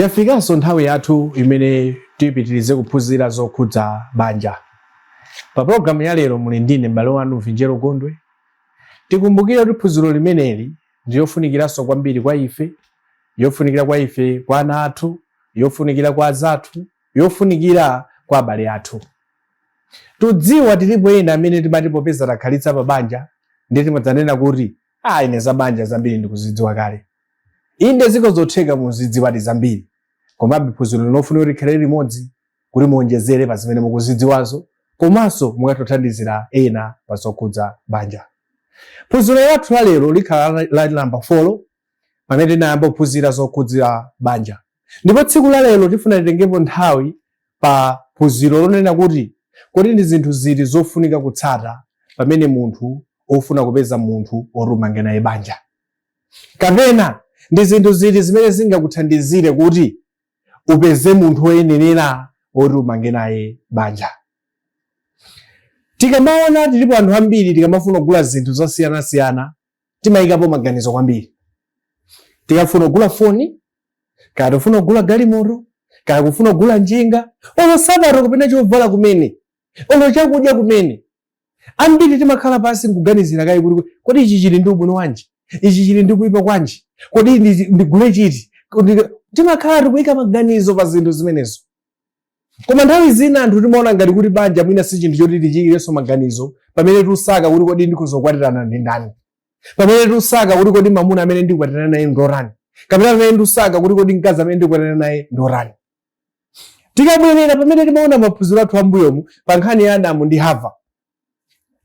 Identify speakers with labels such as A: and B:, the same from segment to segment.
A: Yafikanso nthawi yathu imene tipitirize kuphunzira zokhudza banja. Pa pulogalamu ya lero muli ndine m'bale wanu Vinjero Gondwe. Tikumbukire kuti phunziro limeneli ndi yofunikiranso kwambiri kwa ife, yofunikira kwa ife, kwa ana athu, yofunikira kwa anzathu, yofunikira kwa abale athu. Tudziwa tilipo ena amene timati popeza takhalitsa pa banja ndiye timadzanena kuti ah, ine za banja zambiri ndikuzidziwa kale. inde zikhoza kutheka muzidziwadi zambiri komabe phunziro lino ifunika kuti tikhale limodzi kuti muonjezere pa zimene mukuzidziwazo komanso mukatothandizira ena pa zokhudza banja phunziro lathu la lero likhala la namba 4 pamene tinayamba kuphunzira zokhudza banja ndipo tsiku la lero tifuna titengepo nthawi pa phunziro lonena kuti kodi ndi zinthu ziti zofunika kutsata pamene munthu ofuna kupeza munthu oti umange naye banja kapena ndi zinthu ziti zimene zingakuthandizire kuti upeze munthu woyenerera woti umange naye banja tikamaona tilipo anthu ambiri tikamafuna kugula zinthu zosiyanasiyana timayikapo maganizo kwambiri tikafuna kugula foni kaya tikufuna kugula galimoto kaya kufuna kugula njinga olo sapato kapena chovala kumene olo chakudya kumene Ambiri timakhala pansi nkuganizira kaye kuti kodi ichi chili ndi ubwino wanji, ichi chili ndi kuipa kwanji, kodi ndigule chiti? Timakhala tikuika maganizo pa zinthu zimenezo. Koma nthawi zina anthu timaona ngati kuti banja mwina si chinthu choti tichiikirenso maganizo pamene tusaka kuti kodi ndikhoza kukwatirana ndi ndani, pamene tusaka kuti kodi mamuna amene ndikwatirane naye ndotani, kapena pamene ndisaka kuti kodi mkazi amene ndikwatirana naye ndorani. Tikabwerera pamene timaona maphunziro athu ambuyomu pa nkhani ya Adamu ndi Hava.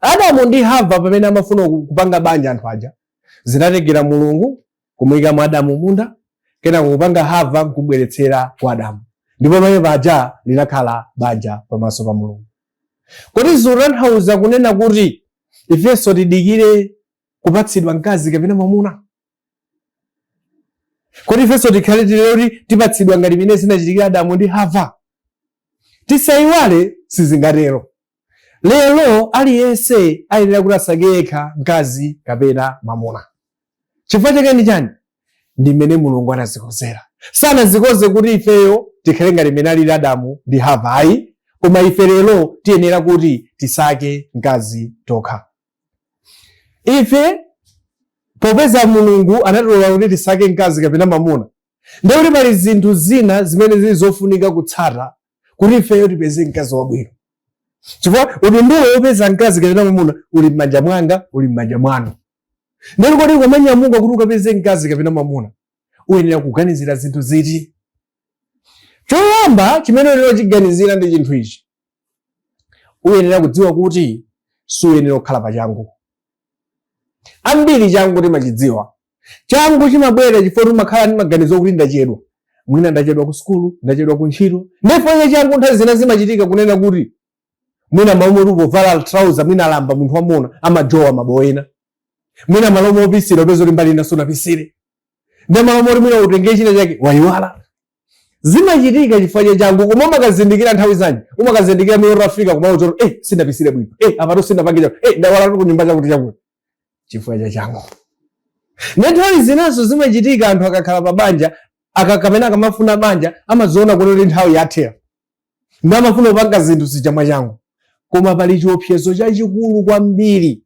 A: Adamu ndi Hava pamene amafuna ku- kupanga banja anthu aja, zinatengera Mulungu kumuyikamo Adamu m'munda, kenako kupanga Hava nkubweretsera kwa Adamu. Ndipo pamenepaja linakhala banja pamaso pa Mulungu. Kodi zikutanthauza kunena kuti ifenso tidikire kupatsidwa mkazi kapena mwamuna? kodi ifenso tikhale tili kuti tipatsidwa ngati mmene zinachitikira adamu ndi hava tisayiwale sizingatero lero aliyense ayenera kuti asake yekha mkazi kapena mwamuna chifukwa chake ndi chani ndi mmene mulungu anazikonzera sanazikonze kuti ifeyo tikhale ngati mmene alili adamu ndi hava ayi koma ife lero tiyenera kuti tisake mkazi tokha ife popeza mulungu anatilola kuti tisankhe mkazi kapena mamuna ndiye kuti pali zinthu zina zimene zili zofunika kutsata kuti ifeyo tipeze mkazi wabwino chifukwa udindo wopeza mkazi kapena mamuna uli m'manja mwanga uli m'manja mwanu ndiye kodi ukamanyamuka kuti ukapeze mkazi kapena mamuna uyenera kuganizira zinthu ziti choyamba chimene uyenera kuchiganizira ndi chinthu ichi uyenera kudziwa kuti suyenera kukhala pa changu ambiri changu timachidziwa changu chimabwera chifukwa timakhala ndi maganizo kuti ndachedwa mwina ndachedwa ku sukulu ndachedwa ku ntchito ndipo ndiye changu nthawi zina zimachitika kunena kuti mwina m'malo moti upovala trouser mwina alamba munthu wamuna amajowa mabowo ena mwina m'malo mopesera upeza kuti mbali ina sunapesere ndi m'malo moti mwina utenge china chake wayiwala zimachitika chifukwa cha changu koma umakazindikira nthawi zanji umakazindikira muja utafika koma ucho eh sindapesere bwino eh apatu sindapange chakuti eh ndayiwala ku nyumba chakuti chakuti chifukwa cha changu nde nthawi zinanso zimachitika anthu akakhala pa banja akakamena akamafuna banja amadziona kuti nthawi yawathera nde amafuna kupanga zinthu zija mwa changu koma pali chiopsezo chachikulu kwambiri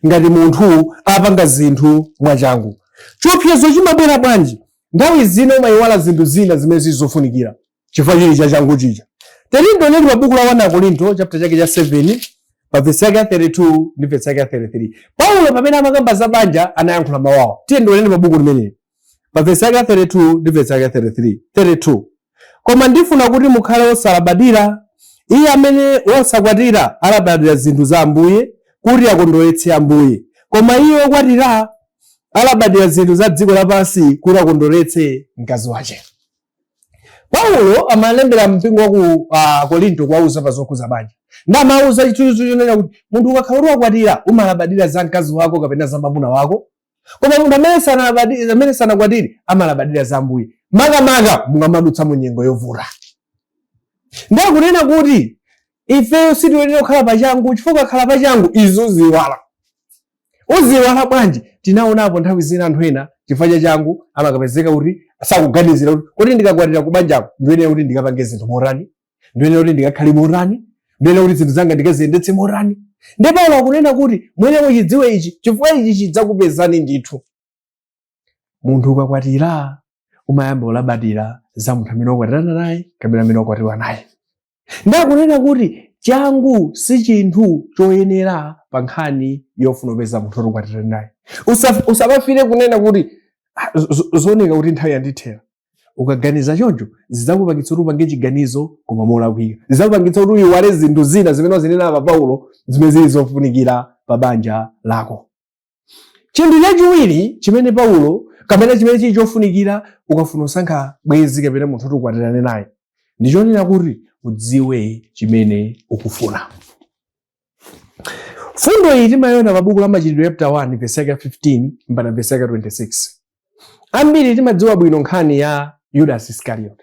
A: ngati munthu apanga zinthu mwachangu. Chiopsezo chimabwera bwanji? Nthawi zina umayiwala zinthu zina zimene zili zofunikira chifukwa chiyani cha changu chija. Tiyeni tione pa buku la 1 Akorinto chapter chake cha 7 pa vesi yake ya 32 ndi vesi yake ya 33. Paulo pamene amakamba za banja anayankhula mawu awa. Tiyeni tione pa buku limeneli. pa vesi yake ya 32 ndi vesi yake ya 33 32 koma ndifuna kuti mukhale wosalabadira iye amene wosakwatira alabadira zinthu za ambuye kuti akondweretse ambuye koma iye wokwatira alabadira zinthu za dziko lapansi kuti akondweretse mkazi wache paulo amalembera mpingo waku uh, korinto kuwauza pa zokhudza banja nde amawauza chinthu chonena kuti munthu ukakhala kuti wakwatira umalabadira za mkazi wako kapena za mwamuna wako koma munthu amene sanalabadire amene sanakwatire amalabadira za ambuye makamaka mukamadutsa mu nyengo yovuta ndiye kunena kuti ifeyo sitiyenera kukhala pachangu chifukwa ukakhala pachangu iwe udziiwala udziiwala bwanji tinaonapo nthawi zina anthu ena chifukwa cha changu amakapezeka kuti sakuganizira kuti kodi ndikakwatira kubanjako ndiyenera kuti ndikapange zinthu motani ndiyenera kuti ndikakhale motani ndiyenera kuti zinthu zanga ndikaziyendetse motani nde paulo akunena kuti muyenera muchidziwe ichi chifukwa ichi chidzakupezani ndithu munthu ukakwatira umayamba kulabadira za munthu amene wakwatirana naye kapena amene wakwatiwa naye nde akunena kuti changu si chinthu choyenera pa nkhani yofuna kupeza munthu woti ukwatirane naye Usa- usamafike kunena kuti "Ah, zo- zo- zooneka kuti nthawi yandithera ukaganiza choncho zidzakupangitsa kuti upange chiganizo koma molakwika zidzakupangitsa kuti uyiwale zinthu zina zimene wazinenapo paulo zimene zili zofunikira pa banja lako chinthu chachiwiri chimene paulo kapena chimene chili chofunikira ukafuna kusankha bwenzi kapena munthu woti ukwatirane naye ndi chonena kuti udziwe chimene ukufuna Fundo iyi timayiona pa buku la Machitidwe chapter 1 verse yake 15 mpaka verse yake 26. Ambiri timadziwa bwino nkhani ya Yudas Iscariot.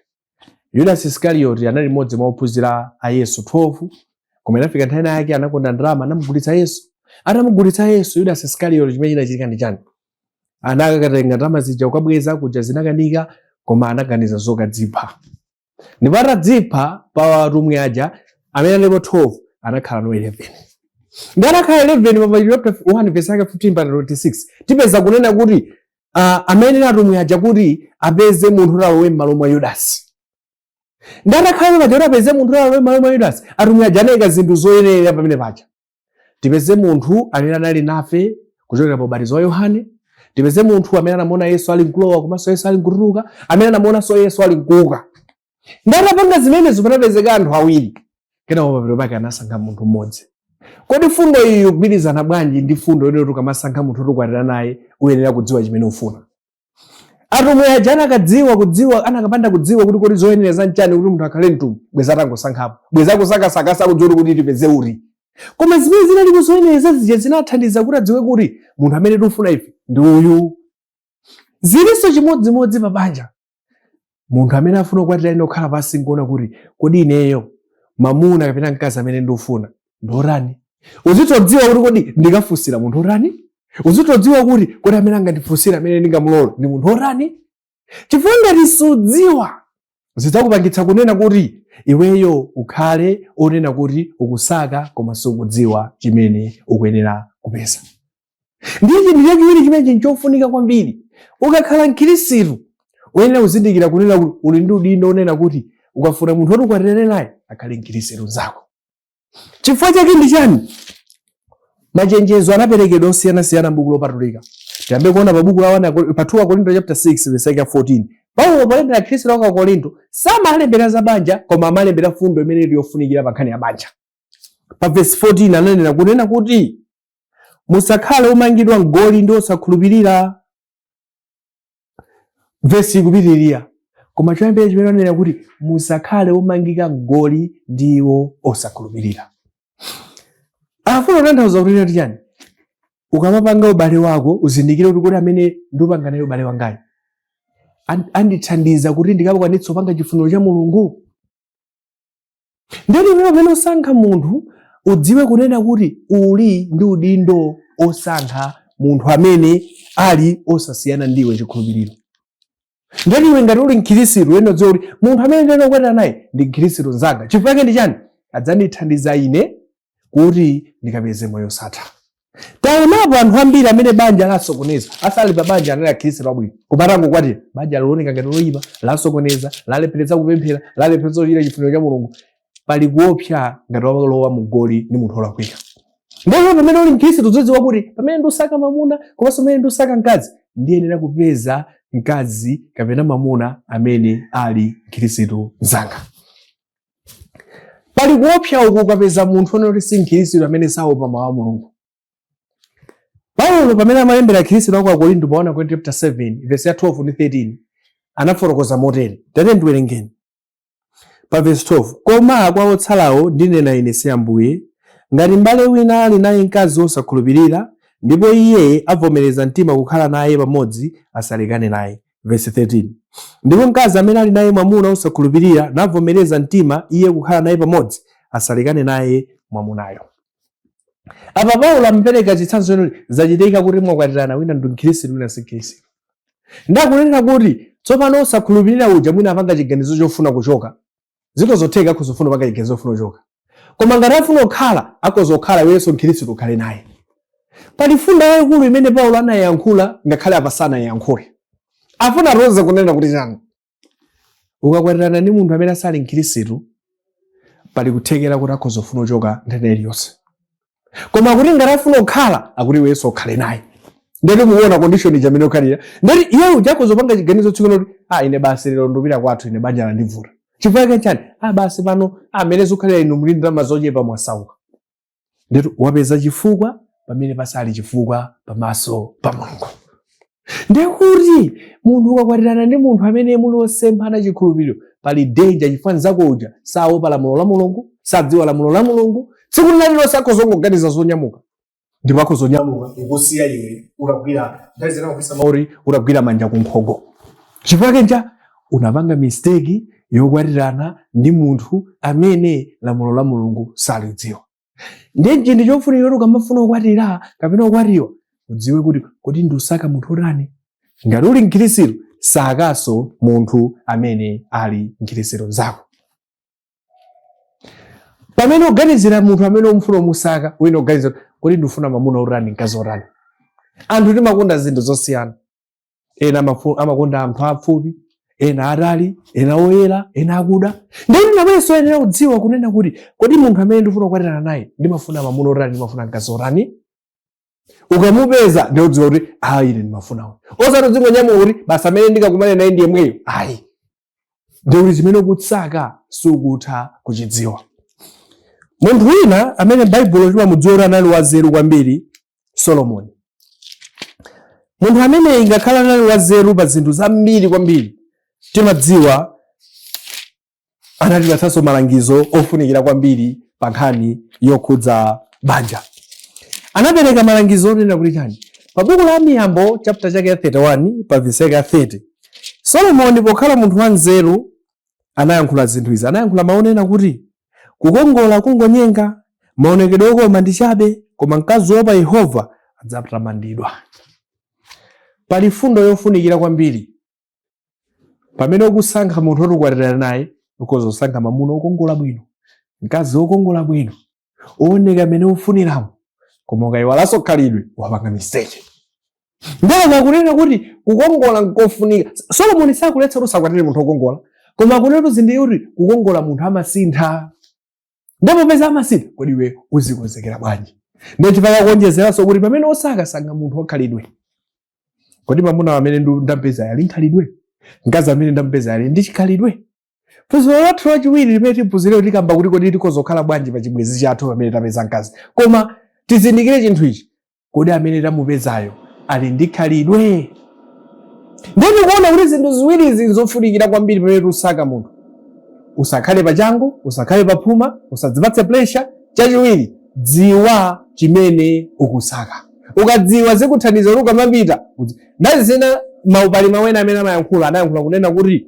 A: Yudas Iscariot anali mmodzi mwa ophunzira a Yesu 12 koma inafika nthawi yake anakonda ndalama anamugulitsa Yesu. Atamugulitsa Yesu Yudas Iscariot chimene chinachitika ndi chani? Anakatenga ndalama zija kukabweza kuja zinakanika koma anaganiza zokadzipha. ndipo atadzipha pa atumwi aja amene analipo 12 anakhala no 11 ndiye atakhala 11 pa Machitidwe chapter 1 verse yake 15 mpaka 26 tipeza kunena kuti ah, amene atumwi aja kuti apeze munthu kuti alowe m'malo mwa yudasi ndiye atakhala paja kuti apeze munthu kuti alowe m'malo mwa yudasi atumwi aja anayika zinthu zoyenereza pamene paja tipeze munthu amene anali nafe kuchokera pa ubatizo wa yohane tipeze munthu amene anamuona yesu ali mkulowa komanso yesu ali mkutuluka amene anamuonanso yesu ali mkuuka ndiye atapanga zimenezo panapezeka anthu awiri kenako pamapeto pake anasankha munthu mmodzi kodi fundo iyi ikugwirizana bwanji ndi fundo yonena kuti ukamasankha munthu woti ukwatirane naye uyenera kudziwa chimene ufuna atumwi aja anakadziwa kudziwa anakapanda kudziwa kuti kodi zoyenereza nchani kuti munthu akhale mtumwi bweza atangosankhapo bweza akusakasakasa kusadziwa kuti tipeze uti koma zimene zinalipo zoyenereza zija zinathandiza kuti adziwe kuti munthu amene tikufuna ife ndi uyu zilinso chimodzimodzi pa banja munthu amene afuna kukwatira ayenera kukhala pansi nkuona kuti kodi ineyo mamuna kapena mkazi amene ndikufuna ndi otani uzitodziwa kuti kodi ndikafunsira munthu otani uzitodziwa kuti kodi amene angandifunsire amene ndingamulole ndi munthu otani chifukwa ngati sudziwa zidzakupangitsa kunena kuti iweyo ukhale onena kuti ukusaka koma sukudziwa chimene ukuyenera kupeza ndiye chinthu chachiwiri chimene chili chofunika kwambiri ukakhala mkhirisitu uyenera kuzindikira kunena kuti uli ndi udindo onena kuti ukafuna munthu woti ukwatirane naye akhale mkhirisitu nzako chifukwa chake ndi chani machenjezo anaperekedwa osiyanasiyana m'buku lopatulika tiyambe kuona pa buku la wana pa 2 akorinto chapter 6 verse yake 14 paulo polembera akhristu a ku akorinto samalembera za banja koma amalembera fundo imene ili yofunikira pa nkhani ya banja pa verse 14 ananena kunena kuti musakhale omangidwa mgoli ndi osakhulupirira vesi ikupitirira koma choyambira chimene anena kuti musakhale omangika mgoli ndi iwo osakhulupirira afuna kutanthauza kunena kuti chani ukamapanga ubale wako uzindikire kuti kodi amene ndupanga naye ubale wangayo an- andithandiza kuti ndikapakwanitsa kupanga chifuniro cha mulungu Ndiyeno iweyo pamene usankha munthu udziwe kunena kuti uli ndi udindo osankha munthu amene ali osasiyana ndiwe chikhulupiriro. Ndiyeno iwe ngati uli mkhirisitu uyenera kudziwa kuti munthu amene ndiyenera kukwatira naye ndi mkhirisitu mnzanga. Chifukwa chake ndi chani? Adzandithandiza ine kuti ndikapeze moyo osatha taonapo anthu ambiri amene banja lasokoneza asali pa banja anali akhristu abwino koma atangokwatira banja lioneka ngati loyipa lasokoneza lalepheretsa kupemphera lalepheretsa kuchita chifuniro cha mulungu pali kuopsa ngati walowa mu goli ndi munthu olakwika ndipo pamene uli mkhristu udzidziwa kuti pamene ndusaka mamuna komanso pamene ndusaka mkazi ndiyenera kupeza mkazi kapena mamuna amene ali mkhristu mzanga pali kuopsa uku ukapeza munthu onena kuti si mkhristu amene saopa mawu a mulungu paulo pamene amalembera akhristu a ku korinto pa 1 akorinto chapter 7 verse ya 12 ndi 13 anafotokoza motere tate ndiwerengeni pa verse 12 koma kwa otsalawo ndinena ine si ambuye ngati mbale wina ali naye mkazi wosakhulupirira ndipo iye avomereza mtima kukhala naye pamodzi asalekane naye Verse 13. Ndipo mkazi amene ali naye mwamuna osakhulupirira navomereza mtima iye kukhala naye pamodzi, asalekane naye mwamunayo. Apa Paulo amapereka chitsanzo choti zachitika kuti mwakwatirana wina ndi Mkhristu wina si Mkhristu. Nde akunena kuti tsopano osakhulupirira uja mwina apanga chiganizo chofuna kuchoka zikhoza kutheka akhoza kufuna kupanga chiganizo chofuna kuchoka koma ngati afuna kukhala akhoza kukhala iwenso mkhristu ukhale naye pali mfundo yayikulu imene paulo anayankhula ngakhale apa sanayankhule afuna atiuze kunena kuti chani ukakwatirana ndi munthu amene asali mkhristu pali kuthekera kuti akhoza kufuna kuchoka nthawi iliyonse koma akuti ngati afuna kukhala akuti iwenso ukhale naye ndeti muona condition ija imene ukhalira ndeti iye uja akhoza kupanga chiganizo chakuti a ine basi lero ndupita kwathu ine banja landivuta chifukwa chake chani a basi pano mmene zikukhalira inu muli ndalama zochepa mwasauka ndeti wapeza chifukwa pamene pasali chifukwa pamaso pa mulungu ndekuti munthu ukakwatirana ndi munthu amene muli osemphana chikhulupiriro pali danger chifukwa mnzako uja saopa lamulo la mulungu sadziwa lamulo la mulungu tsiku lina lilonse akhoza kungoganiza zonyamuka ndipo akhoza kunyamuka kukusiya iwe utagwira nthawi zina kukhwisa mauri utagwira manja kunkhongo chifukwa chake nchani unapanga mistake yokwatirana ndi munthu amene lamulo la mulungu salidziwa ndiye chinthu chofunikira kuti ukamafuna kukwatira kapena kukwatiwa udziwe kuti kodi ndikusaka munthu otani ngati uli mkhirisitu sakanso munthu amene ali mkhirisitu nzako pamene ukuganizira munthu amene ukumfuna ukumusaka uziganizira kodi ndifuna mamuna otani mkazi otani anthu timakonda zinthu zosiyana ena amakonda anthu afupi ena atali ena oyera ena akuda nde nawenso uyenera kudziwa kunena kuti kodi munthu amene ndifuna kukwatirana naye ndimafuna mamuna otani ndimafuna mkazi otani ukamupeza ndikudziwa kuti ayi ine ndimafuna uyu osati udzingonyamuka kuti basi amene ndikakumane naye ndi yemweyo ayi ndi kuti chimene ukusaka sukutha kuchidziwa munthu wina amene baibulo timamudziwa kuti anali wanzeru kwambiri solomoni munthu amene ingakhale anali wanzeru pa zinthu zambiri kwambiri timadziwa anatipatsanso malangizo ofunikira kwambiri pa nkhani yokhudza banja anapereka malangizo onena kuti chani pa buku la miyambo chapter chake ya 31 pa vesi yake ya 30 Solomoni pokhala munthu wanzeru anayankhula zinthu izi, anayankhula mawu onena kuti kukongola kungonyenga, maonekedwe okoma ndi chabe, koma mkazi woopa Yehova adzatamandidwa. Pali mfundo yofunikira kwambiri pamene ukusankha munthu woti ukwatirana naye, ukhoza kusankha mamuna wokongola bwino, mkazi wokongola bwino, wooneka amene ufuniramo koma ukayiwalanso khalidwe wapanga mistake nde akunena kuti kukongola nkofunika solomoni sakuletsa kuti usakwatire munthu wokongola koma akunena kuti zindikira kuti kukongola munthu amasintha ndi popeza amasintha kodi iwe uzikonzekera bwanji nde chifukwa kuonjezeranso kuti pamene usaka sankha munthu wakhalidwe kodi mamuna amene ndu- ndampeza ali nkhalidwe mkazi amene ndampeza ali ndi chikhalidwe phunziro lathu lachiwiri limene tiphunzire tikamba kuti kodi tikhoza kukhala bwanji pa chibwenzi chathu pamene tapeza mkazi koma tizindikire chinthu ichi kodi amene tamupezayo ali ndi khalidwe ndiye tikuona kuti zinthu ziwiri izi nzofunikira kwambiri pamene tikusaka munthu usakhale pachangu usakhale paphuma usadzipatse pressure chachiwiri dziwa chimene ukusaka ukadziwa zikuthandiza kuti ukamapita kuti- ndidziwe ngati mau palibe wina amene amayankhula anayankhula kunena kuti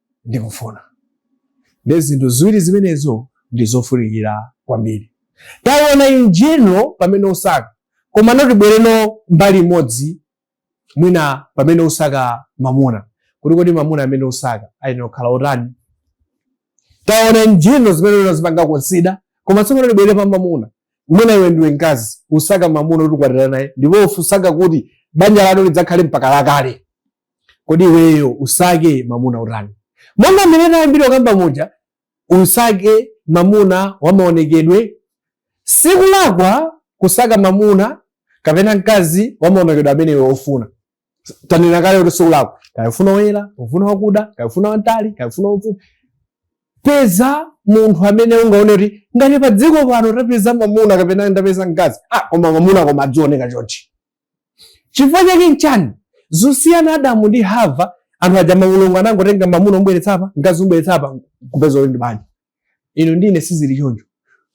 A: ndikufuna. Ndi zinthu ziwiri zimenezo ndi zofunikira kwambiri. Taona in general pamene usaka, komano tibwereno mbali imodzi mwina pamene usaka mamuna, kuti kodi mamuna amene usaka ayenera kukhala otani? Taona in general zimene ungazipange consider, koma tsopano tibwere pa mamuna. Mwina iwe ndiwe mkazi, usaka mamuna kuti ukwatirane naye, ndipo usaka kuti banja lanu lidzakhale mpaka lakale. kodi iweyo usake mamuna otani monga mmene tayambira kukamba muja usake mamuna wamaonekedwe sikulakwa kusaka mamuna kapena mkazi wamaonekedwe amene iwe ufuna tanena kale kuti sikulakwa kaya ufuna woyera ufuna wakuda kaya ufuna wantali kaya ufuna wamfupi peza munthu amene ungaone kuti ngati pa dziko pano tapeza mamuna kapena ndapeza mkazi ah koma mamuna koma adzioneka chonchi chifukwa chake nchani zosiyana adamu ndi hava anthu aja mulungu anangotenga mamuna omubweretsa apa mkazi omubweretsa apa kupeza kuti ndi banja inu ndi ine sizili choncho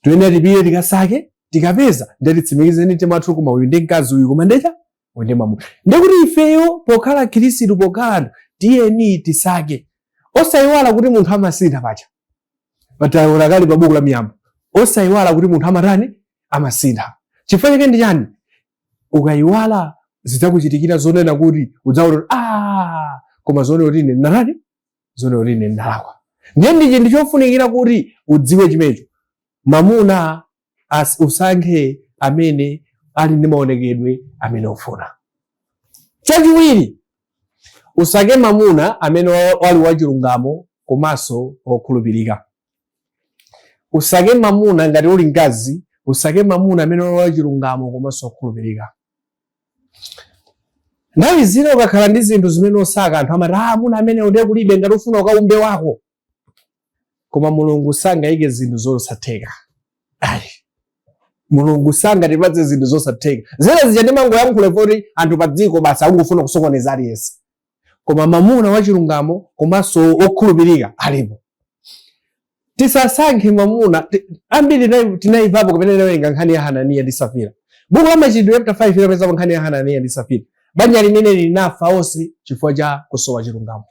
A: toyenera tipite tikasake tikapeza ndiye titsimikize ndi mtima wathu koma uyu ndi mkazi uyu koma ndecha uyu ndi mamuna ndikuti ifeyo pokhala akhirisitu pokhala anthu tiyeni tisake osayiwala kuti munthu amasintha paja taona kali pa buku la miyambo osayiwala kuti munthu amatani amasintha chifukwa chake ndi chani ukayiwala zidzakuchitikira zonena kuti udzaona kuti ah, koma zonena kuti ine ndinatani zonena kuti ine ndinalakwa ndiye ndi chinthu chofunikira kuti udziwe chimenecho mamuna as- usankhe amene ali ndi maonekedwe amene ufuna chachiwiri usake mamuna amene wa- wali wachilungamo komanso wokhulupirika usake mamuna ngati uli mkazi usake mamuna amene wali wachilungamo komanso okhulupirika nthawi zina ukakhala ndi zinthu zimene usaka anthu amati ah amuna ameneo nde kulibe ngati ufuna ukaumbe wako koma mulungu sangayike zinthu zosatheka ayi mulungu sangatipatse zinthu zosatheka zina zija ndimangoyankhula koti anthu pa dziko basi akungofuna kusokoneza aliyense koma mamuna wachilungamo komanso wokhulupirika alipo. Tisasankhe mamuna ambiri tinayivapo kapena tinawerenga nkhani ya Hananiya ndi Safira. Buku la Machitidwe chapter 5 imapezeka nkhani ya Hananiya ndi Safira. Banja limene linafa onse chifukwa cha kusowa chilungamo.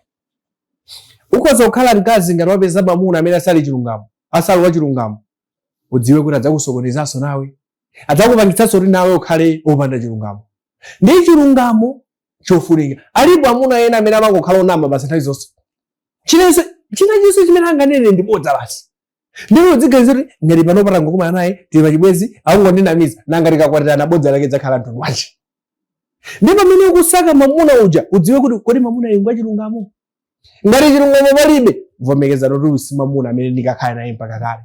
A: Ukhoza kukhala mkazi ngati wapeza mamuna amene asali chilungamo, asali wa chilungamo. Udziwe kuti adzakusokonezanso nawe. Adzakupangitsanso kuti nawe ukhale opanda chilungamo. Ndi chilungamo chofunika. Alipo amuna ena amene amangokhala onama basi nthawi zonse. Chinachilichonse chimene anganene ndi bodza basi. Ndipo udziganiza kuti ngati pano patangokumana naye tili pachibwenzi akungondinamiza nanga tikakwatirana bodza lake dzakhala mtundu wanji. Ndiye pamene ukusaka mamuna uja udziwe kuti kodi mamuna uyu ngwachilungamo. Ngati chilungamo palibe vomerezano kuti uyu si mamuna amene ndikakhale naye mpaka kale.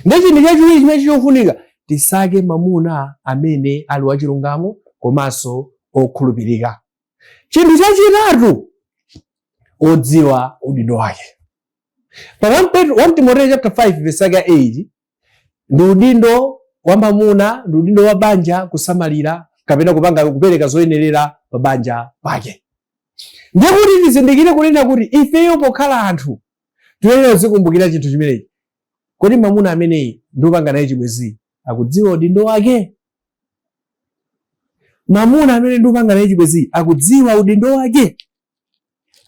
A: Ndi chinthu chachiwiri chimene chofunika tisake mamuna amene ali wachilungamo komanso okhulupirika. Chinthu chachitatu odziwa udindo wake. Pa 1 Timoteyo chapter 5 verse 8 ndi udindo wa mamuna ndi udindo wa banja kusamalira kapena kupanga kupereka zoyenerera pa banja pake. Ndiye kuti tizindikire kunena kuti ifeyo pokhala anthu tiyenera kuzikumbukira chinthu chimenechi. Kodi mamuna ameneyi ndikupanga naye chibwezi akudziwa udindo wake? Mamuna amene ndikupanga naye chibwezi akudziwa udindo wake?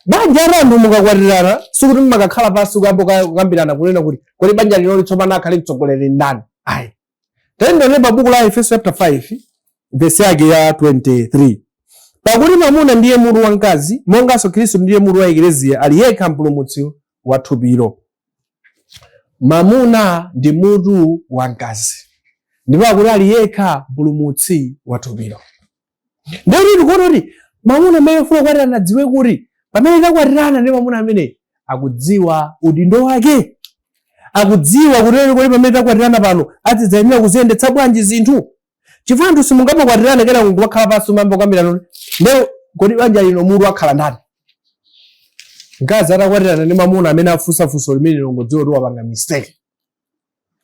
A: Banja la anthu mukakwatirana sikuti mumakakhala pansi kuyamba kukambirana kunena kuti kodi banja linoli tsopano akhale mtsogoleri ndani? Ayi, Tiyendere pa buku la Aefeso chapter 5 verse yake ya 23. Pakuti mamuna ndiye mutu wa mkazi, monganso Khristu ndiye mutu wa ekleziya, ali yekha mpulumutsi wa thupilo. Mamuna ndi mutu wa mkazi, ndipo akuti ali yekha mpulumutsi wa thupilo. Ndiye tikuona kuti mamuna amene akufuna kukwatirana adziwe kuti pamene takwatirana ndi mamuna amene akudziwa udindo wake, akudziwa kunena kuti pamene takwatirana pano azidzayenera kuziyendetsa bwanji zinthu. Chifukwa anthu simungamakwatirana kenako kumakhala pansi kuyamba kukambirana lero kodi banja lino mutu akhala ndani? Mkazi atakwatirana ndi mamuna amene afunsa funso limenelo angodziwa kuti wapanga mistake.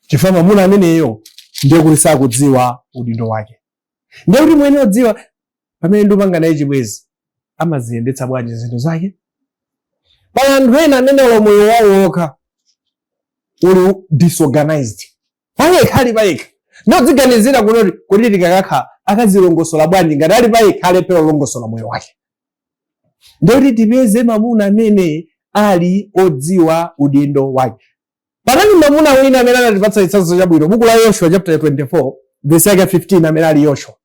A: Chifukwa mamuna ameneyo ndiye kuti sakudziwa udindo wake. ndiye kuti muyenera kudziwa pamene ndupanga naye chibwezi amaziyendetsa bwanji zinthu zake pali anthu ena amene olo moyo wawo wokha uli disorganized payekha ali payekha ndiye udziganizira kunena kuti kodi tikakakhala akazilongosola bwanji ngati ali payekha alephera kulongosola moyo wake ndiye kuti tipeze mamuna amene ali odziwa udindo wake Panali mamuna wina amene anatipatsa chitsanzo chabwino, buku la Yoshua chapter 24 verse yake 15 amene ali Yoshua.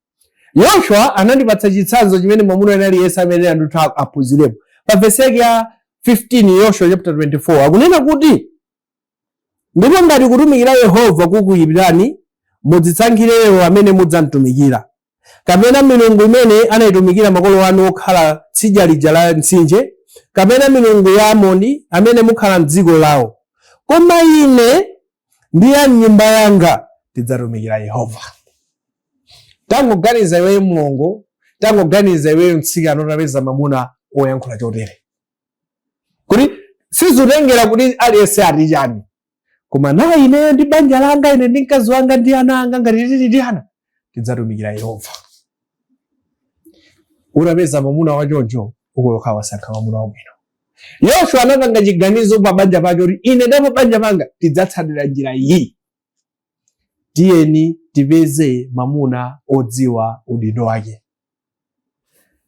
A: Yoshua anatipatsa chitsanzo chimene mamuna wina aliyense ayenera ndithu aphunzirepo. Pa verse yake ya 15 Yoshua chapter 24 akunena kuti ndipo ngati kutumikira Yehova kukuipirani mudzisankhire lero amene mudzamtumikira. kapena milungu imene anaitumikira makolo anu okhala tsidya lija la Mtsinje, kapena milungu ya Amoni amene mukhala m'dziko lawo. Koma ine ndi a m'nyumba yanga tidzatumikira Yehova. Tangoganiza iweyo mlongo, tangoganiza iweyo mtsikana utapeza mamuna oyankhula chotere. Kuti sizitengera kuti aliyense ati chani, koma nayi ineyo ndi banja langa ine ndi mkazi wanga ndi ana anga ngati tili ndi ana tidzatumikira yehova utapeza mwamuna wachoncho ukuyokha wasankha mwamuna wabwino yoshua anapanga chiganizo pa banja pake kuti ine ndi pabanja panga tidzatsatira njira iyi tiyeni tipeze mwamuna odziwa udindo wake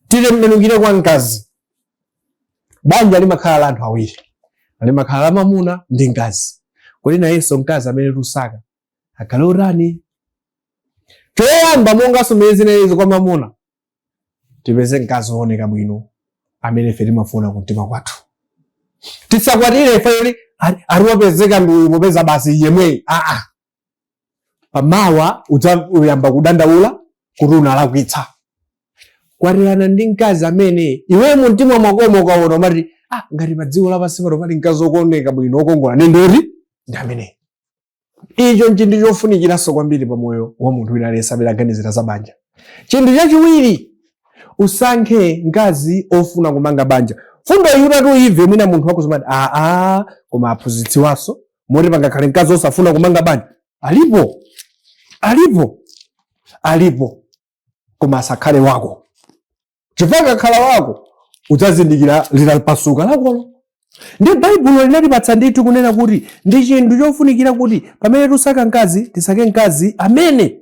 A: titembenukire kwa mkazi banja limakhala la anthu awiri limakhala la mamuna ndi mkazi kodi nayenso mkazi amene tusaka akhale otani choyamba monganso mmene zinalili kwa mamuna tipeze mkazi wooneka bwino amene ife timafuna kumtima kwathu tisakwatire ife yoti ali wapezeka ndi uyu popeza basi yemweyu aa pamawa udzayamba kudandaula kuti unalakwitsa kwatirana ndi mkazi amene iwe mumtima mwakomo ukaona umati ah, ngati pa dziko lapansi pano pali mkazi wooneka bwino wokongola ndiye ndoti ndi amene icho nchinthu chofunikiranso kwambiri pa moyo wa munthu wina aliyense amene aganizira za banja chinthu chachiwiri usankhe mkazi ofuna kumanga banja fundo iyitu uyimve mwina munthu wake uzimati aa koma aphunzitsiwanso moti pangakhale mkazi osafuna kumanga banja alipo alipo alipo koma asakhale wako chifukwa akakhala wako udzazindikira litapasuka lakolo ndiye baibulo linatipatsa ndithu kunena kuti ndi chinthu chofunikira kuti pamene tusaka mkazi tisake mkazi amene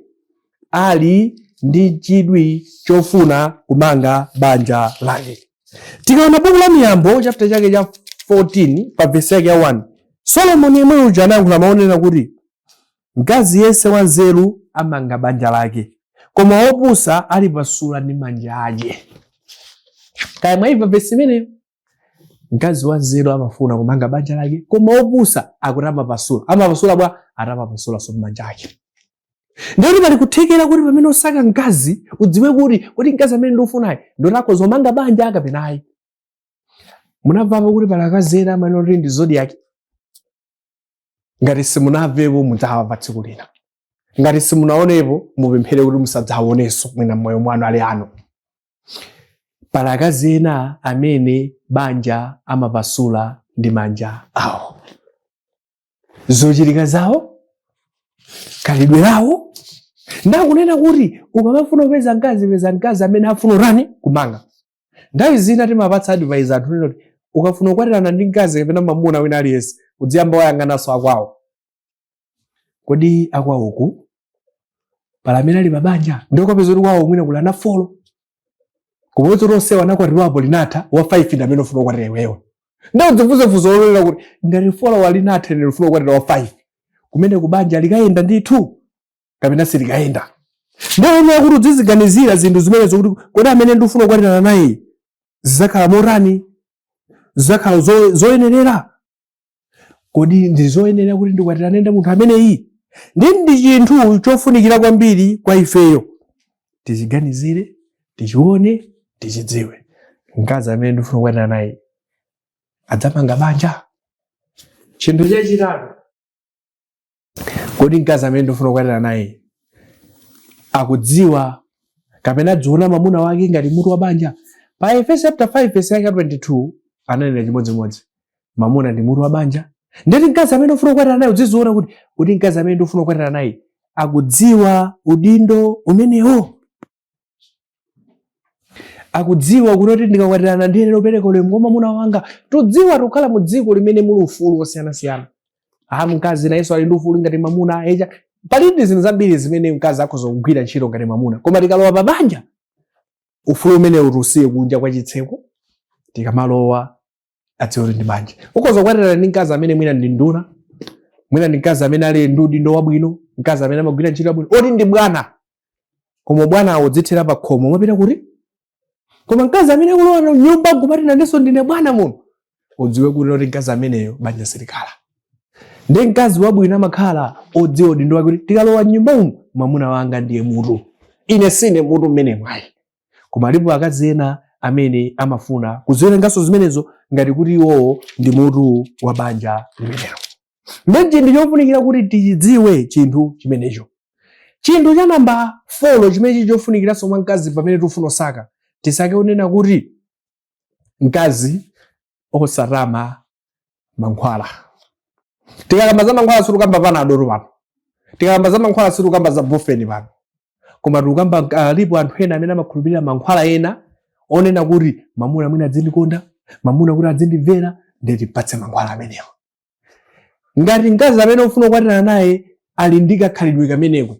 A: ali ndi chidwi chofuna kumanga banja lake Tikaona buku la Miyambo chapter chake cha 14 pa verse yake ya 1, Solomoni yemwe uja anayankhula mau onena kuti mkazi yense wanzeru amanga banja lake, koma wopusa alipasula ndi manja ake. Kaya mwaimva verse imeneyo? Mkazi wanzeru amafuna kumanga banja lake, koma wopusa akuti amapasula. Amapasula bwanji? Ati amapasulanso manja ake. ndiye kuti pali kuthekera kuti pamene usaka mkazi udziwe kuti kodi mkazi amene ndikufunayu ndi wotha kuzamanga banja kapena ayi munamvapo kuti pali akazi ena amene oti ndi zodiaki ngati simunamvepo mudzawamva tsiku lina ngati simunaonepo mupemphere kuti musadzaonenso mwina mmoyo mwanu alipo pali akazi ena amene banja amapasula ndi manja awo zochitika zawo khalidwe lawo ndakunena kuti ukamafuna kupeza mkazi peza mkazi amene afuna kutani kumanga nthawi zina timapatsa advice anthu kunena kuti ukafuna kukwatirana ndi mkazi kapena mamuna wina aliyense udziyamba wayang'ananso akwawo kodi akwawoku pali amene ali pabanja ndiye ukapeza kuti kwawo mwina kuli ana folo Kumodzi lonse wanakwatiwapo linatha wa 5 ndi amene ufuna kukwatira iweyo. Ndio dzifunse funso lolera kuti ngati 4 linatha ndiye ufuna kukwatira wa 5. Kumene kubanja likayenda ndithu kapena silikayenda. Ndio ine kuti udziziganizira zinthu zimene zokuti kodi amene ndifuna kukwatirana naye zizakhala motani zizakhala zo- zoyenerera kodi ndi zoyenera kuti ndikwatirane ndi munthu ameneyi ndi ndi chinthu chofunikira kwambiri kwa ifeyo tichiganizire tichione tichidziwe mkazi amene ndifuna kukwatira naye adzamanga banja chinthu chachitatu kodi mkazi amene ndifuna kukwatira naye akudziwa kapena adziona mamuna wake ngati mutu wa banja pa efeso chapter 5 verse yake 22 ananena chimodzimodzi mamuna ndi mutu wa banja ndeti mkazi amene ufuna kukwatira naye udziziona kuti kodi mkazi amene ndifuna kukwatira naye akudziwa udindo umenewo akudziwa kuti oti ndikakwatirana ndiyenera kupereka ulemu kwa mamuna wanga tudziwa tukhala mu dziko limene muli ufulu wosiyanasiyana aha mkazi nayenso ali ndi ufulu ngati mamuna eya palidi zinthu zambiri zimene mkazi akhoza kugwira ntchito ngati mwamuna koma tikalowa pa banja ufulu umenewu tiusiye kunja kwa chitseko tikamalowa adziwe kuti ndi banja ukhoza kukwatirana ndi mkazi amene mwina ndi nduna mwina ndi mkazi amene ali ndi udindo wabwino mkazi amene amagwira ntchito yabwino oti ndi bwana koma ubwanawo udzithera pa khomo umapita kuti koma mkazi amene akulowa m'nyumba kumati nanenso ndine bwana muno udziwe kuti oti mkazi ameneyo banja silikhala ndi mkazi wabwino amakhala odziwa udindo wake kuti tikalowa m'nyumba umu mwamuna wanga ndiye mutu ine sine mutu m'menemu ayi koma alipo akazi ena amene amafuna kudziwerenganso zimenezo ngati kuti iwowo ndi mutu wa banja limenelo ndiye ndi chinthu chofunikira kuti tichidziwe chinthu chimenecho chinthu cha namba 4 chimene chili chofunikiranso mwa mkazi pamene tikufuna kusaka tisake kunena kuti mkazi osatama mankhwala tikakamba za mankhwala sitikukamba panado pano tikakamba za mankhwala sitikukamba za bufeni pano koma tikukamba alipo anthu ena amene amakhulupirira mankhwala ena onena kuti mamuna mwina adzindikonda mamuna kuti adzindimvera ndim'patse mankhwala amenewo ngati mkazi amene ufuna kukwatira naye ali ndi kakhalidwe kameneko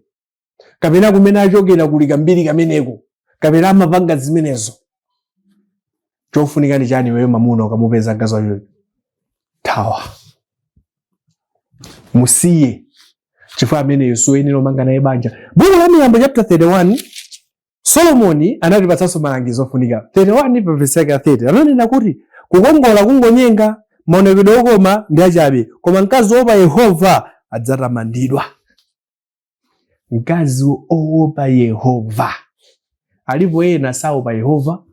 A: kapena kumene achokera kuli kambiri kameneko kapena amapanga zimenezo chofunika ndi chani iweyo mamuna ukamupeza mkazi wotero thawa musiye chifukwa ameneyo siwoyenera kumanga naye banja buku la miyambo chapter 31 solomoni anatipatsanso malangizo ofunika 31 pa vesi yake ya 30 ananena kuti kukongola kungonyenga maonekedwe okoma ndi achabe koma mkazi woopa yehova adzatamandidwa mkazi owopa yehova alipo ena saopa yehova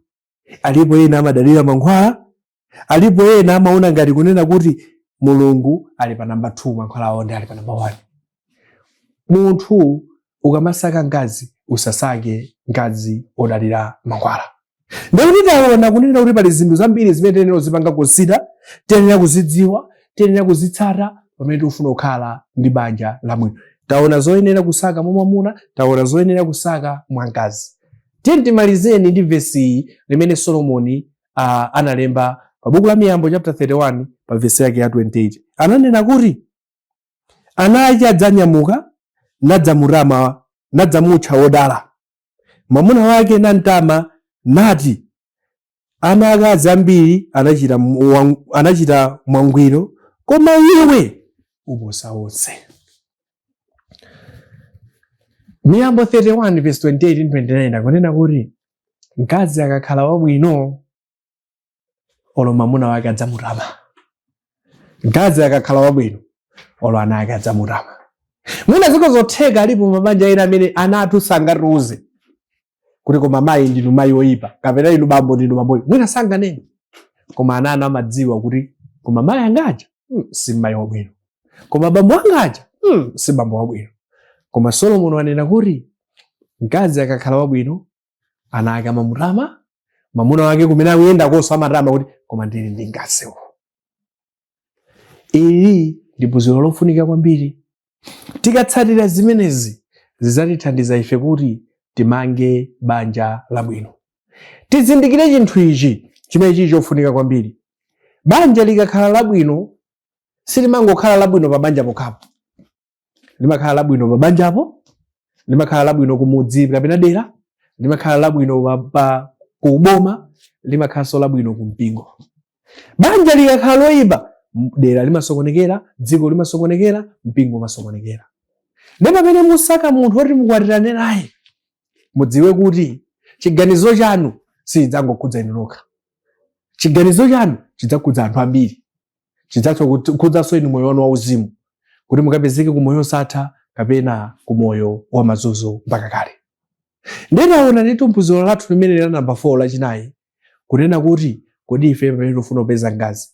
A: alipo ena amadalira mankhwala alipo ena amaona ngati kunena kuti mulungu ali pa namba 2 mankhwala awo nde ali pa namba 1 munthu ukamasaka mkazi usasake mkazi odalira mankhwala Ndikuti taona kunena kuti pali zinthu zambiri zimene tiyenera kuzipanga consider, tiyenera kuzidziwa, tiyenera kuzitsata pamene tikufuna kukhala ndi banja labwino. Taona zoyenera kusaka mwa mwamuna, taona zoyenera kusaka mwa mkazi. Tiyeni timalizeni ndi vesi iyi limene Solomoni uh, analemba pa buku la Miyambo chapter 31 pa vesi yake ya 28. Ananena kuti ana ake adzanyamuka nadzamutama nadzamutcha wodala. Mwamuna wake namtama nati, Ana akazi ambiri anachita mwa- anachita mwangwiro, koma iwe uposa onse. Miyambo 31 verse 28 ndi 29 akunena kuti mkazi akakhala wabwino olo mamuna wake adzamutama mkazi akakhala wabwino olo ana ake adzamutama mwina ziko zotheka alipo mabanja ena amene ana athu sangatiuze kuti koma mayi ndinu mayi oyipa kapena inu bambo ndinu bambo oyipa mwina sanganene koma ana anu amadziwa kuti koma mayi angaja hmm, si mayi wabwino koma bambo angaja hmm, si bambo wabwino koma solomoni wanena kuti mkazi akakhala wabwino ana ake amamutama mamuna wake kumene akuyendakonso amatama kuti koma ndili ndi mkazi uyu ili ndi phunziro lofunika kwambiri tikatsatira zimenezi zidzatithandiza ife kuti timange banja labwino tizindikire chinthu ichi chimene chili chofunika kwambiri banja likakhala labwino silimangokhala labwino pa banja pokhapo limakhala labwino pa banjapo limakhala labwino kumudzi kapena dera limakhala labwino pa, pa kuboma limakhalanso labwino kumpingo banja likakhala loyipa m- dera limasokonekera dziko limasokonekera mpingo umasokonekera ndi pamene musaka munthu woti mukwatirane naye mudziwe kuti chiganizo chanu sichidzangokhudza inu nokha chiganizo chanu chidzakhudza anthu ambiri chidzakhudzanso inu moyo wanu wauzimu kuti mukapezeke ku moyo osatha kapena ku moyo wa mazunzo mpaka kale ndinaona ndithu m'phunziro lathu limene la namba 4 lachinayi kunena kuti kodi ife pamene tikufuna kupeza mkazi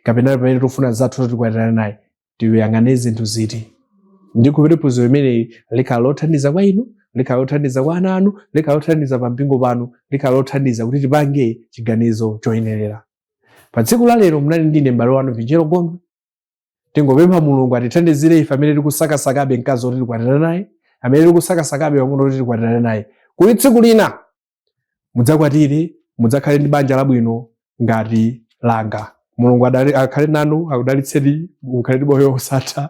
A: kapena pamene tikufuna zathu tikwatirana naye tiyang'ane zinthu ziti ndikhulupirira phunziro limeneli likhala lothandiza kwa inu likhala lothandiza kwa ana anu likhala lothandiza pa mpingo panu likhala lothandiza kuti tipange chiganizo choyenerera pa tsiku la lero munali ndine m'bale wanu vinjero gondwe tingopempha mulungu atithandizire ife amene tikusakasakabe mkazi oti tikwatirane naye amene tikusakasakabe mwamuna oti tikwatirane naye kuti tsiku lina mudzakwatire mudzakhale ndi banja labwino ngati langa mulungu adali- akhale nanu akudalitseni mukhale ndi moyo wosatha